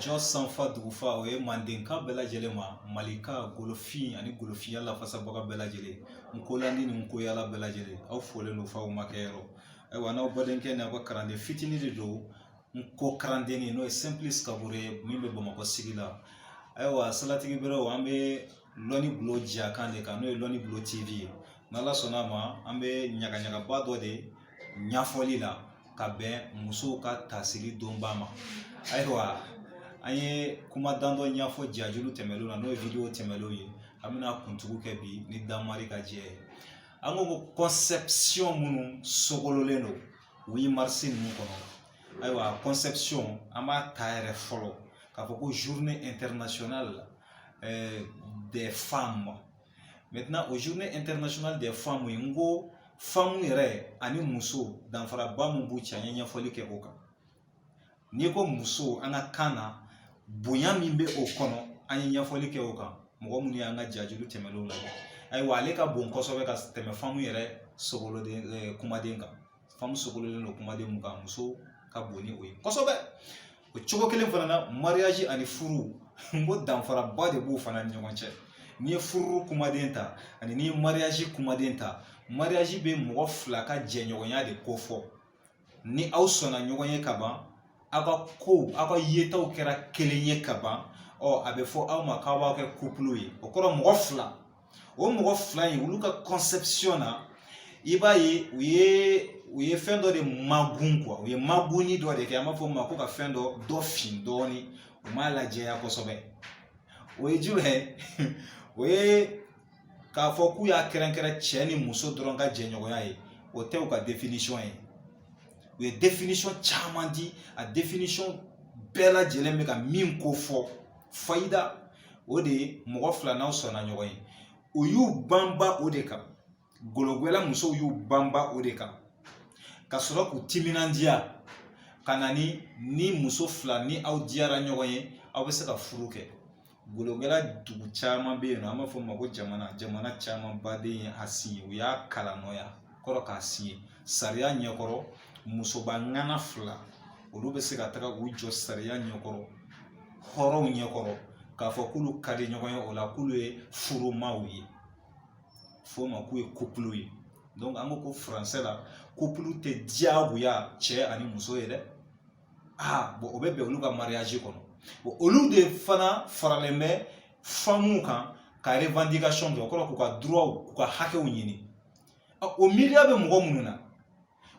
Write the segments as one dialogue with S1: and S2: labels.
S1: jɔ sanfa dugufa o ye mandenka bɛɛ lajɛlen ma malika golofin ani golofinya lafasabaga bɛɛ lajɛlen n kolandi ni n koyala bɛɛ lajɛlen aw folen don f'aw makɛyɔrɔ ayiwa n'aw badenkɛ ni aw ka kalanden fitini de don n ko kalandenni n'o ye simplice kabore ye min bɛ bamakɔ sigi la ayiwa salatigi berew an bɛ lɔnni bulon jɛya kan de kan n'o ye lɔnni bulon tv ye n'ala sɔnna a ma an bɛ ɲagaɲagaba dɔ de ɲɛfɔli la ka bɛn musow ka tasiri donba ma ayiwa an ye kuma dandɔ ɲɛfɔ jajulu tɛmɛnlenw na n'o ye video tɛmɛnlenw ye an bɛna kuntugu kɛ bi ni danmari ka jɛ ye an ko ko conception minnu sogololen don huit mars ninnu kɔnɔ ayiwa conception an b'a ta yɛrɛ fɔlɔ k'a fɔ ko journée internationale euh, des femmes maintenant o journée internationale des femmes ye n ko femme yɛrɛ ani muso danfaraba min b'u cɛ an ye ɲɛfɔli kɛ o kan n'i ko muso an ka kan na bonya min bɛ o kɔnɔ an ye ɲɛfɔli kɛ o kan mɔgɔ minnu y'an ka jajulu tɛmɛnenw lajɛ ayiwa ale ka bon kosɛbɛ ka tɛmɛ femme yɛrɛ sogololen kumaden kan femme sogololen don kumaden min kan muso ka bon ni o ye kosɛbɛ o cogo kelen fana na mariage ani furu n ko danfaraba de b'o fana ni ɲɔgɔn cɛ n'i ye furu kumaden ta ani n'i ye mariage kumaden ta mariage bɛ mɔgɔ fila ka jɛɲɔgɔnya de kofɔ ni aw sɔnna ɲɔgɔn ye ka ban aw ka kow aw ka yetaw kɛra kelen ye ka ban ɔ a bɛ fɔ aw ma k'aw bɛ kɛ couple ye o kɔrɔ mɔgɔ fila o mɔgɔ fila in olu ka conception na i b'a ye u ye u ye fɛn dɔ de magun quoi u ye magunni dɔ de kɛ an b'a fɔ o ma ko ka fɛn dɔ dɔfin dɔɔni u m'a lajɛya kosɛbɛ o ye jumɛn o ye k'a fɔ k'u y'a kɛrɛnkɛrɛn cɛ ni muso dɔrɔn ka jɛɲɔgɔnya ye o tɛ u ka definition ye u ye definition caman di a definition bɛɛ lajɛlen bɛ ka min kofɔ fayida o de ye mɔgɔ fila n'aw sɔnna ɲɔgɔn ye u y'u banba o de kan gologwɛla musow y'u banba o de kan ka sɔrɔ k'u timinandiya ka na ni ni muso fila ni aw diyara ɲɔgɔn ye aw bɛ se ka furu kɛ gologwɛla dugu caman bɛ yen nɔ an b'a fɔ o ma ko jamana jamana camanba de ye a siɲɛ u y'a kalannɔya kɔrɔ k'a siɲɛ sariya ɲɛkɔrɔ musoba ŋana fila olu bɛ se ka taga u jɔ sariya ɲɛkɔrɔ hɔrɔnw ɲɛkɔrɔ k'a fɔ k'olu ka di ɲɔgɔn ye o la k'olu ye furumaw ye f'o ma k'u ye couple ye donc an ko ko furansɛ la couple tɛ diyagoya cɛ ani muso ye dɛ aa bon o bɛ bɛn olu ka mariage kɔnɔ bon olu de fana faralen bɛ femmew kan ka revendication kɛ o kɔrɔ k'u ka droitw k'u ka hakɛw ɲini o miiriya bɛ mɔgɔ minnu na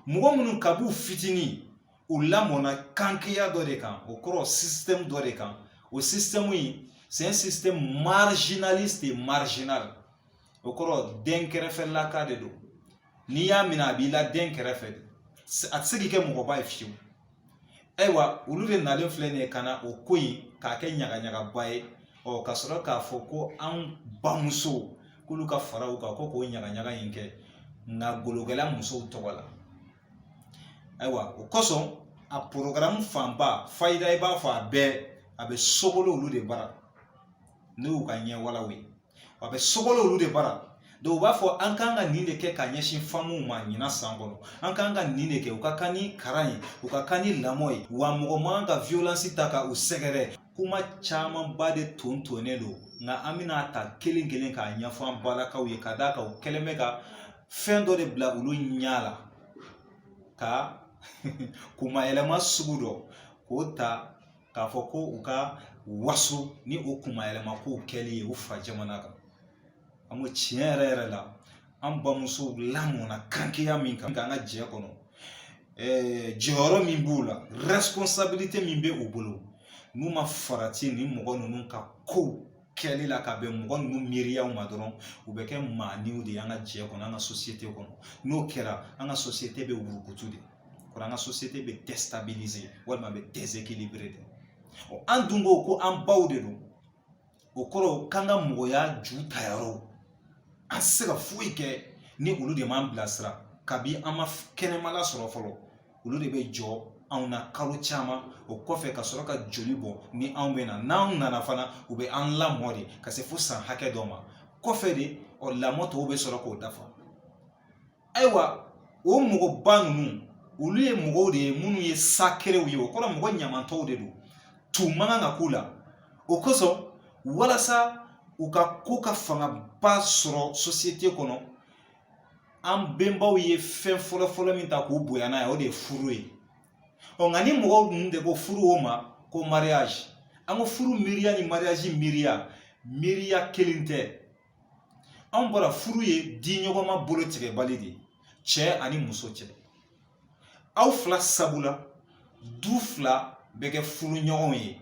S1: mɔgɔ minnu kab'u fitinin u lamɔna kankeya dɔ de kan o kɔrɔ système dɔ de kan o système in c'est un système marginaliste et marginal o kɔrɔ dɛnkɛrɛfɛlaka de don n'i y'a minɛ a b'i la dɛnkɛrɛfɛ a tɛ se k'i kɛ mɔgɔba ye fiyewu ayiwa olu de nalen filɛ nin ye ka na o ko in k'a kɛ ɲagaɲagaba ye ɔ ka sɔrɔ k'a fɔ ko an bamusow k'olu ka fara u kan ko k'o ɲagaɲaga in kɛ nka golokɛla musow tɔgɔ la ayiwa o kosɔn a porogaramu fanba fayida i b'a fɔ a bɛɛ a bɛ sogolon olu de bara n'o y'u ka ɲɛwalaw ye a bɛ sogolon olu de bara dɔw u b'a fɔ an kan ka nin de kɛ ka ɲɛsin famuw ma ɲina san kɔnɔ an kan ka nin de kɛ u ka kan ni karan ye u ka kan ni lamɔ ye wa mɔgɔ man ka violence ta ka u sɛgɛrɛ kuma camanba de ton tonnen don nka an bɛna ta kelen kelen k'a ɲɛfɔ an barakaw ye ka d'a kan u kɛlen bɛ ka fɛn dɔ de bila olu ɲɛ la ka kunmayɛlɛma sugu dɔ k'o ta k'a fɔ ko u ka waso ni o kunmayɛlɛma kow kɛli ye u fa jamana kan an ko tiɲɛ yɛrɛ yɛrɛ la an bamusow lamɔna kankeya min kan an ka jɛ kɔnɔ jɔyɔrɔ min b'u la responsabilité min bɛ u bolo n'u ma farati nin mɔgɔ ninnu ka kow kɛli la ka bɛn mɔgɔ ninnu miiriyaw ma dɔrɔn u bɛ kɛ maaniw de ye an ka jɛ kɔnɔ an ka sosiyete kɔnɔ n'o kɛra an ka sosiyete bɛ wurukutu de kɔrɔ an ka sosiyete bɛ déstabilisé walima bɛ déséquilibré de ɔ an dun ko ko an baw de don o kɔrɔ k'an ka mɔgɔya ju tayɔrɔw an tɛ se ka foyi kɛ ni olu de m'an bilasira kabi an ma kɛnɛma lasɔrɔ fɔlɔ olu de bɛ jɔ anw na kalo caman o kɔfɛ ka sɔrɔ ka joli bɔn ni anw bɛ na n'anw nana fana u bɛ an lamɔ de ka se fo san hakɛ dɔ ma kɔfɛ de ɔ lamɔ tɔw bɛ sɔrɔ k'o dafa ayiwa o mɔgɔba ninnu olu ye mɔgɔw de ye minnu ye sacréw ye o kɔrɔ mɔgɔ ɲamatɔw de don tu man kan ka k'u la o kosɔn walasa u ka ko ka fangaba sɔrɔ sosiyete kɔnɔ an bɛnbaw ye fɛn fɔlɔ fɔlɔ min ta k'u bonya n'a ye o de ye furu ye ɔ nka nin mɔgɔw ninnu de ko furu o ma ko mariage an ko furu miiriya ni mariage miiriya miiriya kelen tɛ anw bara furu ye di ɲɔgɔnma bolo tigɛbali de ye cɛ ani muso cɛ aw fila sabula du fila bɛ kɛ furu ɲɔgɔnw ye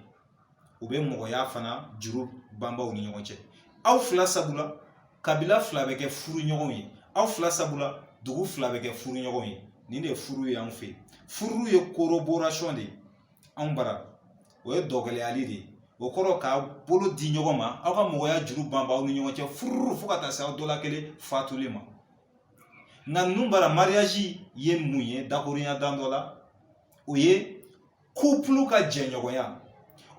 S1: u bɛ mɔgɔya fana juru banba aw ni ɲɔgɔn cɛ aw fila sabula kabila fila bɛ kɛ furu ɲɔgɔn ye aw fila sabula dugu fila bɛ kɛ furu ɲɔgɔn ye nin de ye furu ye anw fɛ yen furu ye koroborasɔn de ye anw bara o ye dɔgɔlɛyali de ye o kɔrɔ ka bolo di ɲɔgɔn ma aw ka mɔgɔya juru banba aw ni ɲɔgɔn cɛ furu fo ka taa se aw dɔ la kelen fatuli ma nka ninnu bara mariyaji ye mun ye dakurunya dan dɔ la o ye kupulu ka jɛɲɔgɔnya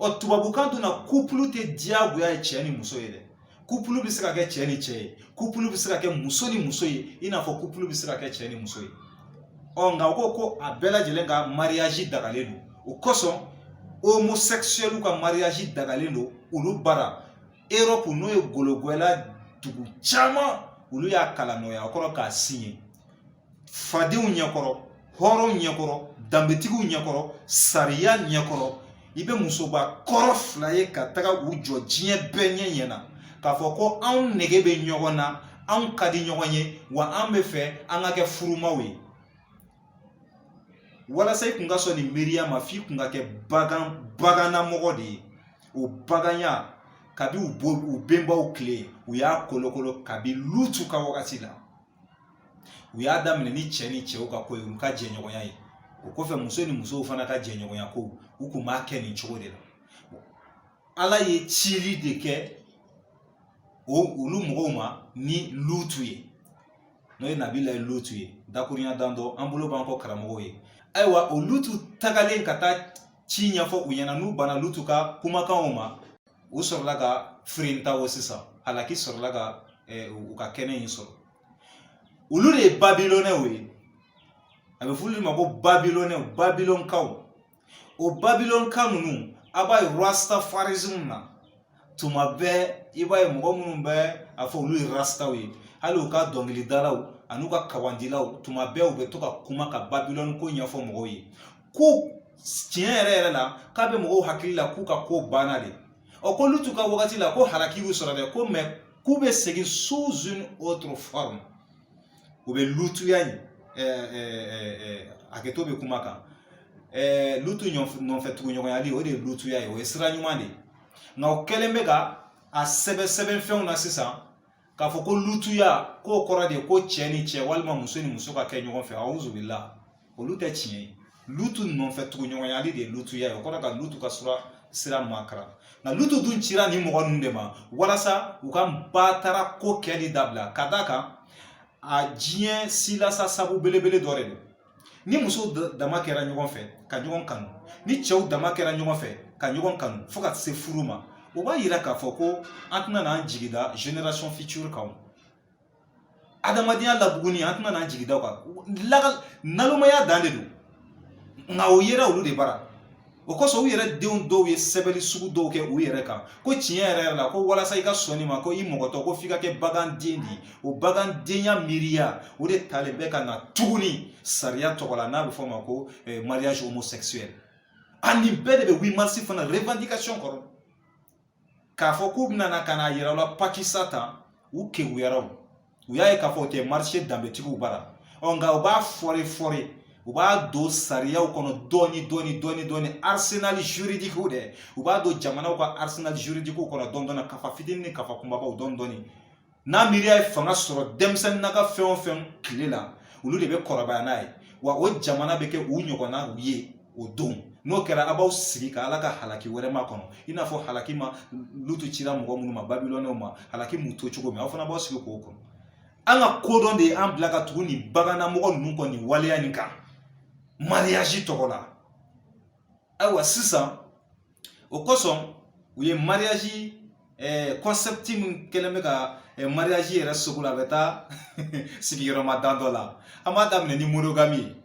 S1: ɔ tubabukan dun na kupulu tɛ diyagoya ye cɛ ni muso ye dɛ kupulu bɛ se ka kɛ cɛ ni cɛ ye kupulu bɛ se ka kɛ muso ni muso ye i n'a fɔ kupulu bɛ se ka kɛ cɛ ni muso ye ɔ nka u ko ko a bɛɛ lajɛlen ka mariyaji dagalen don o kosɔn homosexuels ka mariyaji dagalen don olu bara Europe n'o ye gologwɛla dugu caman olu y'a kalan nɔgɔya kɔrɔ k'a sin ye fadenw ɲɛkɔrɔ hɔrɔnw ɲɛkɔrɔ danbetigiw ɲɛkɔrɔ sariya ɲɛkɔrɔ i bɛ musoba kɔrɔ fila ye ka taga u jɔ diɲɛ bɛɛ ɲɛ ɲɛ na k'a fɔ ko anw nege bɛ ɲɔgɔn na anw ka di ɲɔgɔn ye wa an bɛ fɛ an ka kɛ furumaw ye walasa i kun ka sɔn nin miiriya ma f'i kun ka kɛ bagan bagannamɔgɔ de ye o baganya kabi u bo u benbaw tile u y'a kolokolo kabi lutu ka wagati la u y'a daminɛ ni cɛ ni cɛw ka ko ye u ka jɛɲɔgɔnya ye o kɔfɛ muso ni musow fana ka jɛɲɔgɔnya ko u kun b'a kɛ nin cogo de la ala ye cili de kɛ o olu mɔgɔw ma ni lutu ye n'o ye nabilayi lutu ye dakurunya dan dɔ an bolo b'an kɔ karamɔgɔw ye ayiwa o lutu tagalen ka taa ci ɲɛfɔ u ɲɛna n'u banna lutu ka kumakanw ma u sɔrɔla ka firinta o sisan halaki sɔrɔla ka u ka kɛnɛ in sɔrɔ olu de ye babilonɛw ye a bɛ f'olu ma ko babilonɛw babilonkaw o babilonka ninnu a b'a ye rastafarism na tuma bɛɛ i b'a ye mɔgɔ minnu bɛ a fɔ olu ye rastaw ye hali u ka dɔnkilidalaw an'u ka kawandilaw tuma bɛɛ u bɛ to ka kuma ka babilɔni ko ɲɛfɔ mɔgɔw ye ko tiɲɛ yɛrɛ yɛrɛ la k'a bɛ mɔgɔw hakili la k'u ka ko banna de ɔ ko lutu ka wagati la ko halaki bɛ sɔrɔ dɛ ko mais k'u bɛ segin sous une autre forme u bɛ lutuya in hakɛto bɛ kuma kan lutu nɔfɛ tuguɲɔgɔnyali o de ye lutuya ye o ye sira ɲuman de ye nka o kɛlen bɛ ka a sɛbɛn sɛbɛnfɛnw na sisan k'a fɔ ko lutuya k'o kɔrɔ de ye ko cɛ ni cɛ walima muso ni muso ka kɛ ɲɔgɔn fɛ awuzubila olu tɛ tiɲɛ ye lutu nɔfɛ tuguɲɔgɔnyali de ye lutuya ye o kɔrɔ ka lutu ka sura sira makaran nka lutu dun cira nin mɔgɔ ninnu de ma walasa u ka batara ko kɛli dabila ka d'a kan a diɲɛ silasa sabu belebele dɔ de don ni musow dama kɛra ɲɔgɔn fɛ ka ɲɔgɔn kanu ni cɛw dama kɛra ɲɔgɔn fɛ ka ɲɔgɔn kanu fo ka se furu ma o b'a yira k'a fɔ ko an tɛna n'an jigida generation future kan adamadenya labuguni an tɛna n'an jigida o kan nalomaya dan de don nka o yera olu de bara o kosɔn u yɛrɛ denw dɔw ye sɛbɛnni sugu dɔw kɛ u yɛrɛ kan ko tiɲɛ yɛrɛ yɛrɛ la ko walasa i ka sɔn nin ma ko i mɔgɔtɔ ko f'i ka kɛ baganden de ye o bagandenya miiriya o de talen bɛ ka na tuguni sariya tɔgɔ la n'a bɛ fɔ o ma ko eh, mariage homosexuel a nin bɛɛ de bɛ 8 mars fana revendication kɔrɔ k'a fɔ k'u bɛna na ka n'a yira an la pakisa tan u keguyara o u y'a ye k'a fɔ o tɛ marcher danbetigiw bara ɔ nka u b'a fɔre fɔre u b'a don sariyaw kɔnɔ dɔɔni dɔɔni dɔɔni dɔɔni arsenal juridique dɛ u b'a don jamanaw ka arsenal juridique kɔnɔ dɔɔni dɔɔni kafa fitini ni kafa kunbabaw dɔɔni dɔɔni n'a miiriya ye fanga sɔrɔ denmisɛnnin na ka fɛn o fɛn tile la olu de bɛ kɔrɔbaya n'a ye wa o jamana bɛ kɛ u ɲɔgɔnnaw ye o don n'o kɛra a b'aw sigi ka ala ka halaki wɛrɛ makɔnɔ i n'a fɔ halaki ma lutu cira mɔgɔ minnu ma babilɔnɛw ma halaki m'u to cogo min aw fana b'aw sigi k'o kɔnɔ an ka kodɔn de ye an bila ka tugu nin bagannamɔgɔ ninnu kɔ nin waleya nin kan mariyaji tɔgɔ la ayiwa sisan o kosɔn u ye mariyaji eh, concept min kɛlen bɛ ka eh, mariyaji yɛrɛ sogolo a bɛ taa sigiyɔrɔma dan dɔ la an b'a daminɛ ni monogami ye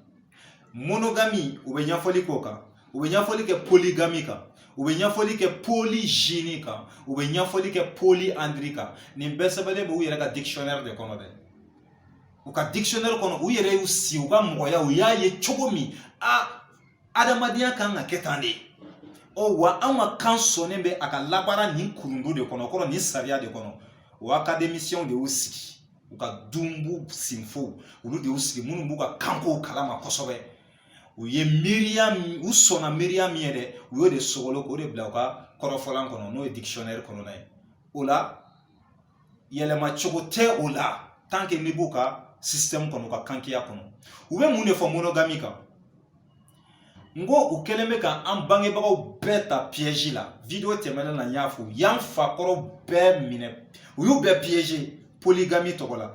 S1: monogami u bɛ ɲɛfɔli k'o kan u bɛ ɲɛfɔli kɛ poligami kan u bɛ ɲɛfɔli kɛ polizini kan u bɛ ɲɛfɔli kɛ poliandiri kan nin bɛɛ sɛbɛnnen bɛ u yɛrɛ ka dictionnaire de kɔnɔ dɛ u ka dictionnaire kɔnɔ u yɛrɛ y'u si u ka mɔgɔya u y'a ye cogo min na adamadenya kan ka kɛ tan de ɔ wa anw ka kan sɔnnen bɛ a ka labaara nin kurundu de kɔnɔ kɔrɔ nin sariya de kɔnɔ o akademisiyɛnw de y'u sigi u ka dunbu sinfow olu de y'u sigi minnu b'u ka kankow kalama kosɛbɛ u ye miiriya u sɔnna miiriya min ye dɛ u y'o de sogolo k'o de bila u ka kɔrɔfɔlan kɔnɔ n'o ye dikisiyɔnɛri kɔnɔna ye o la yɛlɛma cogo tɛ o la tant que n'i b'u ka système kɔnɔ u ka kankiya kɔnɔ u bɛ mun de fɔ monogami kan n ko u kɛlen bɛ ka an bangebagaw bɛɛ ta piège la video tɛmɛnen na n y'a fɔ u y'an fakɔrɔ bɛɛ minɛ u y'u bɛɛ piéger polygami tɔgɔ la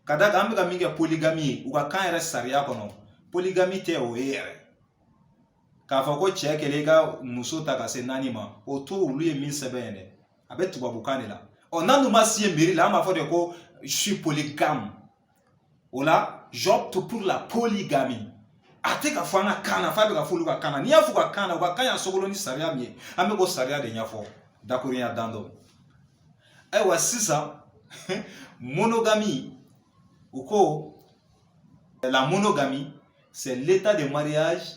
S1: ka d'a kan an bɛ ka min kɛ polygami ye u ka kan yɛrɛ sariya kɔnɔ polygami tɛ o ye yɛrɛ k'a fɔ ko cɛ kelen ka muso ta ka se naani ma o to olu ye min sɛbɛn yɛrɛ a bɛ tubabukan de la ɔ n'an dun ma si ye mairie la an b'a fɔ de ko je suis polygame wala j'opte pour la polygamie a tɛ ka fɔ an ka kan na f'a bɛ ka fɔ olu ka kan na n'i y'a fɔ u ka kan na u ka kan y'a sogolo ni sariya min ye an bɛ k'o sariya de ɲɛfɔ dakuruɲa damadɔ ayiwa sisan monogamie u ko la monogamie c'est l'état de mariage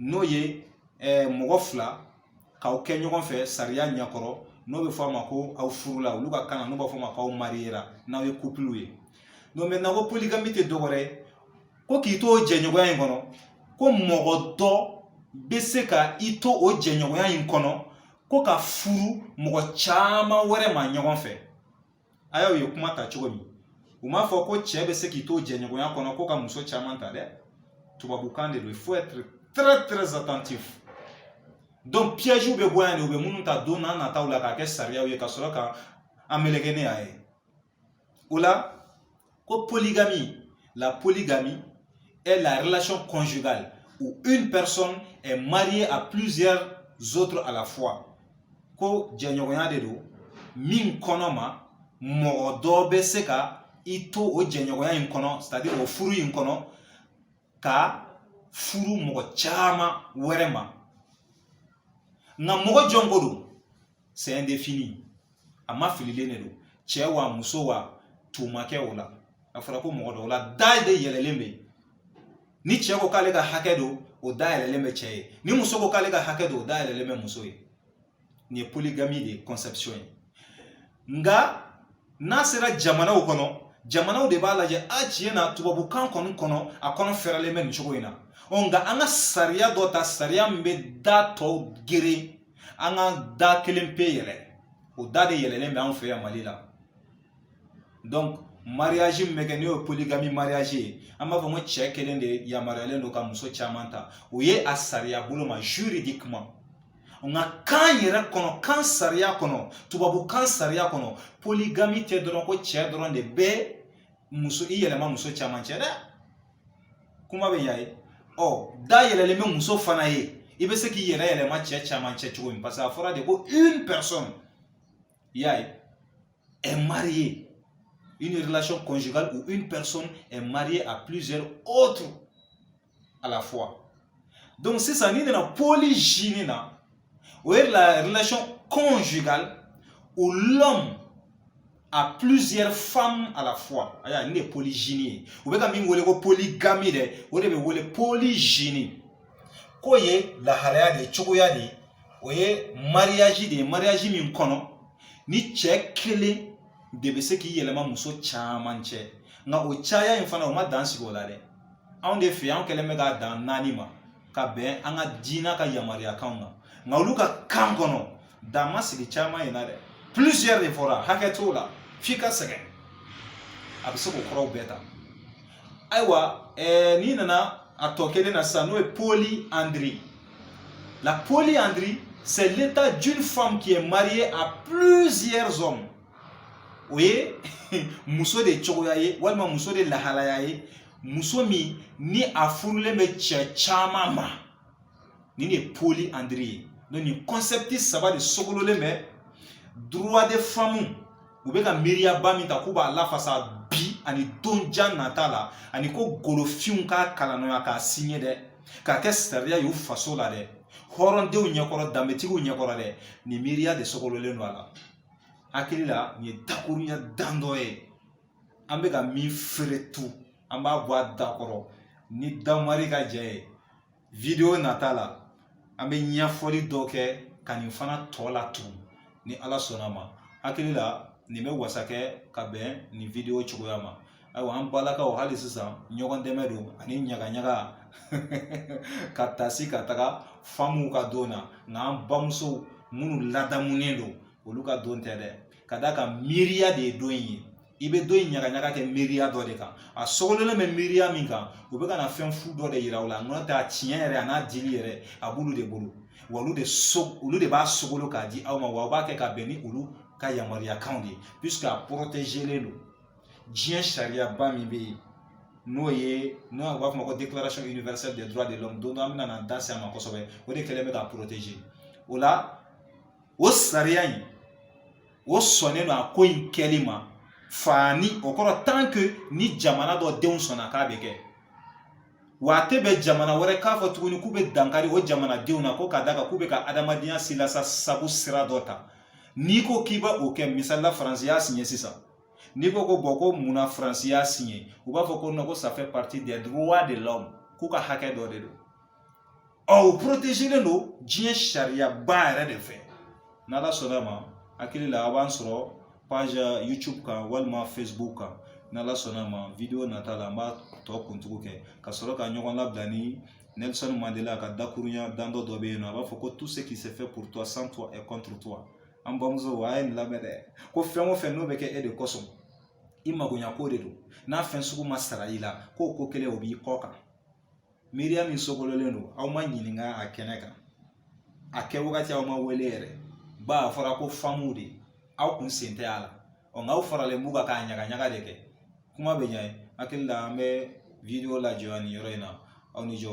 S1: n'o ye eh, mɔgɔ fila k'aw kɛ ɲɔgɔn fɛ sariya ɲɛkɔrɔ n'o bɛ fɔ a ma ko aw furula olu ka kan na n'u b'a fɔ a ma k'aw mariyera n'aw ye kupuluw ye donc mais n'a ko poligami tɛ dɔwɛrɛ ye ko k'i to o jɛɲɔgɔnya in kɔnɔ ko mɔgɔ dɔ bɛ se ka i to o jɛɲɔgɔnya in kɔnɔ ko ka furu mɔgɔ caman wɛrɛ ma ɲɔgɔn fɛ A y'a ye u ye kuma ta cogo min u m'a fɔ ko cɛ bɛ se k'i to jɛɲɔgɔnya kɔnɔ ko ka muso caman ta dɛ tubabukan de don il faut être très très attentif donc piègew bɛ bɔ yan de u bɛ minnu ta don nataw la k'a kɛ sariyaw ye ka sɔrɔ ka an meleke ne y'a ye o la Ko polygamie, la polygamie est la relation conjugale où une personne est mariée à plusieurs autres à la fois. Ko jɛɲɔgɔnya de don min kɔnɔ ma mɔgɔ dɔ bɛ se ka i to o jɛɲɔgɔnya in kɔnɔ c'est à dire o furu in kɔnɔ ka furu mɔgɔ caman wɛrɛ ma nka mɔgɔ jɔn ko don c'est indéfini a ma fililen de don cɛ wa muso wa tumakɛ o la a fɔra ko mɔgɔ dɔ o la da de yɛlɛlen bɛ ni cɛ ko k'ale ka hakɛ don o da yɛlɛlen bɛ cɛ ye ni muso ko k'ale ka hakɛ don o da yɛlɛlen bɛ muso ye nin ye polygamie de conception ye nka n'a sera jamanaw kɔnɔ jamanaw de b'a lajɛ a tiɲɛ na tubabukan kɔni kɔnɔ a kɔnɔ fɛrɛlen bɛ nin cogo in na ɔ nka an ka sariya dɔ ta sariya min bɛ da tɔw geren an ka da kelen pe yɛlɛ o da de yɛlɛlen bɛ an fɛ yan mali la donc mariage min bɛ kɛ n'o ye polygamie mariage ye an b'a fɔ ko cɛ kelen de yamaruyalen don ka muso caman ta o ye a sariya bolo ma juridiquement nka kan yɛrɛ kɔnɔ kan sariya kɔnɔ tubabukan sariya kɔnɔ poligami tɛ dɔrɔn ko cɛ dɔrɔn de bɛ muso i yɛlɛma muso caman cɛ dɛ kuma bɛ ɲa ye ɔ da yɛlɛlen bɛ muso fana ye i bɛ se k'i yɛrɛ yɛlɛma cɛ caman cɛ cogo min parce que a fɔra de ko une personne i y'a ye est mariée une relation conjugale où une personne est mariée à plusieurs autres à la fois donc sisan n'i nana polygynie na o ye la relation conjugale où l'homme a plusieurs femmes à la fois ayiwa nin de ye polygynie ye u bɛ ka min wele ko polygamie dɛ o de bɛ wele polygynie k'o ye lahalaya de ye cogoya de ye o ye mariage de ye mariage min kɔnɔ ni cɛ kelen de bɛ se k'i yɛlɛma muso caman cɛ nka o caya in fana o ma dan sigi o la dɛ anw de fɛ an kɛlen bɛ ka dan naani ma ka bɛn an ka diinɛ ka yamaruyakanw ma nka olu ka kan kɔnɔ dan ma sigi caman in na dɛ plusieurs de fɔra hakɛ t'o la f'i ka sɛgɛn a bɛ se k'o kɔrɔw bɛɛ ta ayiwa ɛɛ n'i nana a tɔ kelen na sisan n'o ye polyandrie la polyandrie c'est l'état d'une femme qui est mariée à plusieurs hommes o ye muso de cogoya ye walima muso de lahalaya ye muso min ni a furulen bɛ cɛ caman ma nin de ye polyandrie ye donc nin kɔnsɛpiti saba de sogololen bɛ droits des femmes u bɛ ka miiriyaba min ta k'u b'a lafasa bi ani don jan nata la ani ko golofinw k'a kalannɔya k'a siɲɛ dɛ k'a kɛ sariya y'u faso la dɛ hɔrɔndenw ɲɛkɔrɔ danbetigiw ɲɛkɔrɔ dɛ nin miiriya de sogololen don a la hakili la nin ye dakurunya dan dɔ ye an bɛ ka min feere tu an b'a bɔ a da kɔrɔ ni damari ka jɛ ye video nata la an bɛ ɲɛfɔli dɔ kɛ ka nin fana tɔ latugun ni ala sɔnna ma hakili la nin bɛ wasa kɛ ka bɛn nin video cogoya ma ayiwa an balakaw hali sisan ɲɔgɔndɛmɛ don ani ɲagaɲaga ka tasi ka taga famuw ka don na nka an bamusow minnu ladamunen don olu ka don tɛ dɛ ka d'a kan miiriya de ye don in ye i bɛ don in ɲagaɲaga kɛ miiriya dɔ de kan a sogololen bɛ miiriya min kan u bɛ ka na fɛn fu dɔ de yira u la n'o tɛ a tiɲɛ yɛrɛ a n'a dili yɛrɛ a b'olu de bolo wa olu de so olu de b'a sogolo k'a di aw ma wa u b'a kɛ ka bɛn ni olu ka yamaruyakanw de ye puisque a protégelen don diɲɛ sariyaba min bɛ yen n'o ye n'o u b'a fɔ ma ko déclaration universelle des droits de l'homme don dɔ an bɛna na an da se a ma kosɛbɛ o de kɛlen bɛ k'a protéger o la o sariya in o sɔnnen don a ko in kɛli ma fa ni o kɔrɔ tant que ni jamana dɔ denw sɔnna k'a bɛ kɛ wa a tɛ bɛn jamana wɛrɛ k'a fɔ tuguni k'u bɛ dankari o jamanadenw na ko ka d'a kan k'u bɛ ka adamadenya silasa sabu sira dɔ ta n'i ko k'i bɛ o kɛ misali la faransi y'a siɲɛ sisan n'i ko ko bon ko munna faransi y'a siɲɛ u b'a fɔ ko non ko ça fait partie des droits de l'homme k'u ka hakɛ dɔ de don Ɔ u porotezelen don diɲɛ sariyaba yɛrɛ de fɛ n'ala sɔnna ma hakili la a b'an sɔrɔ page youtube kan walima facebook kan n'ala sɔnna ma video nata la an b'a tɔ kuntugu kɛ ka sɔrɔ ka ɲɔgɔn labila ni nelson mandela ka dakuruɲa damadɔ dɔ bɛ yen nɔ a b'a fɔ ko tout ce qui se fait pour toi sans toi est contre toi an bamusow a ye nin lamɛn dɛ ko fɛn o fɛn n'o bɛ kɛ e de kosɔn i magoɲako de don n'a fɛn sugu ma sara i la k'o ko kɛlen o b'i kɔ kan miiriya min sogololen don aw ma ɲininka a kɛnɛ kan a kɛ wagati aw ma wele yɛrɛ ba a fɔra ko famuw de aw kun sen tɛ a la ɔ nka aw faralen b'u kan k'a ɲagaɲaga de kɛ kuma bɛ yen hakili la an bɛ video lajɔ nin yɔrɔ in na aw ni jɔ